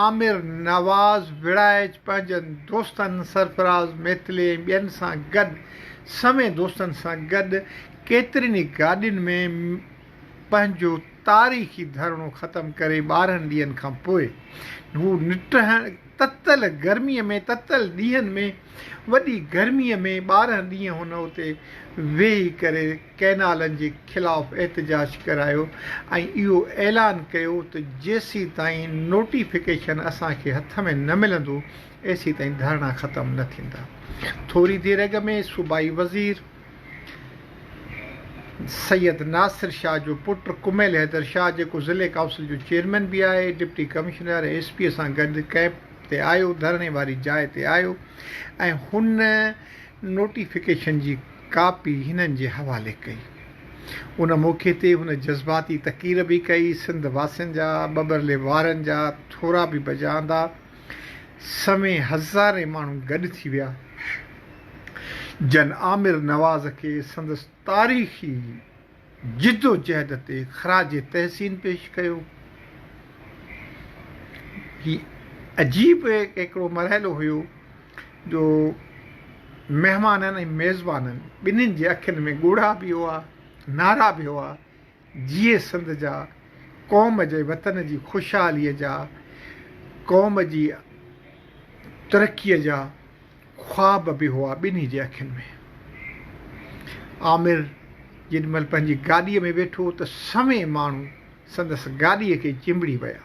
عامر نواز ويڙهائچ پنهنجن دوستن سرفراز ميتلي ۽ ٻين سان گڏ سوين دوستن سان گڏ ڪيترين ئي گاڏين ۾ پنهنجو تاريخي ڌرڻو ختم ڪري ٻارهن ڏينهن کان پوء هو نٽهڻ تتل گرمي ۾ تتل ڏينهن ۾ وڏي گرمي ۾ ٻارهن ڏينهن هن اتي ويهي ڪري ڪئنالن جي خلاف احتجاج ڪرايو ۽ اهو اعلان ڪيو ته جيسيتائين نوٽيفڪيشن اسان کي هٿ ۾ نه ملندو ايسيتائين ڌرڻا ختم نه ٿيندا. ٿوري دير اڳ ۾ صوبائي وزير سيد ناصر شاهه جو پٽ ڪميل حيدر شاهه جيڪو ضلعي ڪائونسل جو چيئرمين به آهي ڊپٽي ڪمشنر ۽ ايس پي سان گڏ ڪئمپ تي آيو ڌرڻي واري جاء تي آيو ۽ هن نوٽيفڪيشن جي ڪاپي هنن جي حوالي ڪئي. ان موقعي تي هن جذباتي تقرير به ڪئي. سنڌ واسين جا ٻٻرلي وارن جا ٿورا به بجا آندا. سوين هزارين ماڻهو گڏ ٿي ويا. جن عامر نواز کي سندس تاريخي. جدوجهد تي خراج تحسين پيش ڪيو. هي عجيب هڪڙو مرحلو هيو جو مهمانن ۽ ميزبانن ٻنهين جي اکين ۾ ڳوڙها به هئا، نعرا به هئا، جيئي سنڌ جا، قوم جي وطن جي خوشحاليء جا، قوم جي ترقيء جا. خواب به هئا ٻنهي جي اکين ۾. عامر جيڏي مهل پنهنجي گاڏيء ۾ ويٺو ته سوين ماڻهو سندس گاڏيء کي چنبڙي ويا.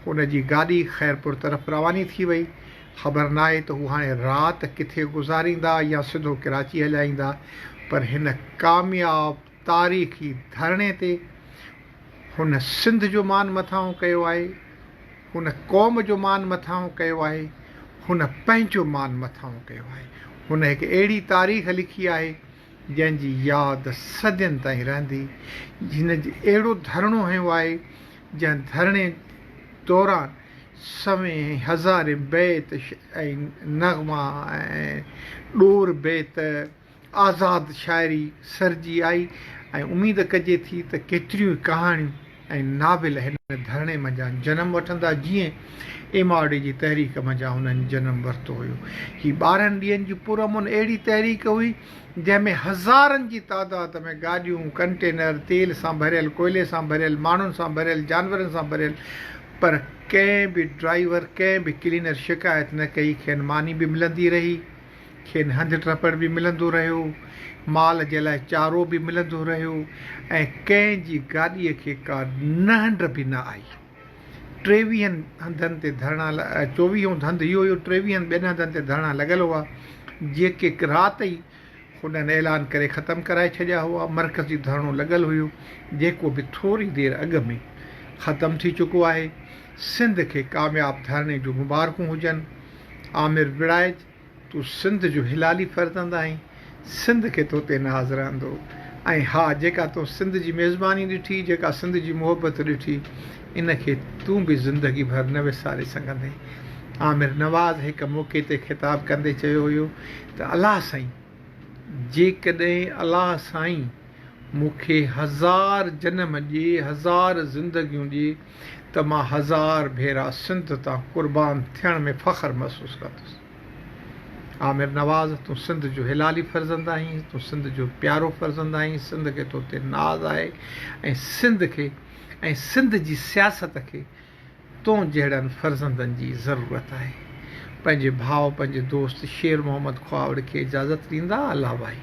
هن جي گاڏي خيرپور طرف رواني ٿي وئي. خبر ناهي ته هو هاڻي رات ڪٿي گذاريندا يا سڌو ڪراچي هليا ايندا پر هن ڪامياب تاريخي ڌرڻي تي هن سنڌ جو مان مٿانهون ڪيو آهي، هن قوم جو مان مٿانهون ڪيو آهي، هن پنهنجو مان مٿانهون ڪيو آهي. هن هڪ اهڙي تاريخ لکي آهي، جنهن جي ياد صدين تائين رهندي. هن اهڙو ڌرڻو هنيو آهي، جنهن ڌرڻي دوران سوين ۽ هزارين بيت ۽ نغما ۽ ڏور بيت، آزاد شاعري سرجي آئي ۽ اميد ڪجي ٿي ته ڪيتريون ئي ڪهاڻيون ۽ ناول هن ڌرڻي منجهان جنم وٺندا جيئن ايم آر ڊي جي تحريڪ منجهان انهن جنم ورتو هيو. هي ٻارهن ڏينهن جي پرامن اهڙي تحريڪ هئي جنهن ۾ هزارن جي تعداد ۾ گاڏيون، ڪنٽينر، تيل سان ڀريل، ڪوئلي سان ڀريل، ماڻهن سان ڀريل، جانورن سان ڀريل پر ڪنهن به ڊرائيور، ڪنهن به ڪلينر شڪايت نه ڪئي، کين ماني به ملندي رهي. کين هنڌ ٽپڙ به ملندو رهيو، مال جي لاء چارو به ملندو رهيو ۽ ڪنهن جي گاڏيء کي ڪا نهنڊ به نه آئي. ٽيويهن هنڌن تي ڌرڻا چوويهون هنڌ اهو هيو ٽيويهن ٻين هنڌن تي ڌرڻا لڳل هئا، جيڪي رات ئي هنن اعلان ڪري ختم ڪرائي ڇڏيا هئا. مرڪزي ڌرڻو لڳل هيو، جيڪو به ٿوري دير اڳ ۾ ختم ٿي چڪو آهي. سنڌ کي ڪامياب ڌرڻي جون مبارڪون هجن. عامر وڙائچ. تون سنڌ جو هلالي فرزند آهين، سنڌ کي تو تي ناز رهندو ۽ ها جيڪا تون سنڌ جي ميزباني ڏٺي، جيڪا سنڌ جي محبت ڏٺي، ان کي تون به زندگي ڀر نه وساري سگهندين. عامر نواز هڪ موقعي تي خطاب ڪندي چيو هيو ته الله سائين جيڪڏهن الله سائين مون کي هزار جنم ڏي، هزار زندگيون ڏي، ته مان هزار ڀيرا سنڌ تان قربان ٿيڻ ۾ فخر محسوس ڪندس. عامر نواز تون سنڌ جو حلالي فرزند آهين، تون سنڌ جو پيارو فرزند آهين، سنڌ کي تو تي ناز آهي ۽ سنڌ کي ۽ سنڌ جي سياست کي تون جهڙن فرزندن جي ضرورت آهي. پنهنجي ڀاء پنهنجي دوست شير محمد کهاوڙ کي اجازت ڏيندا الله ڀائي.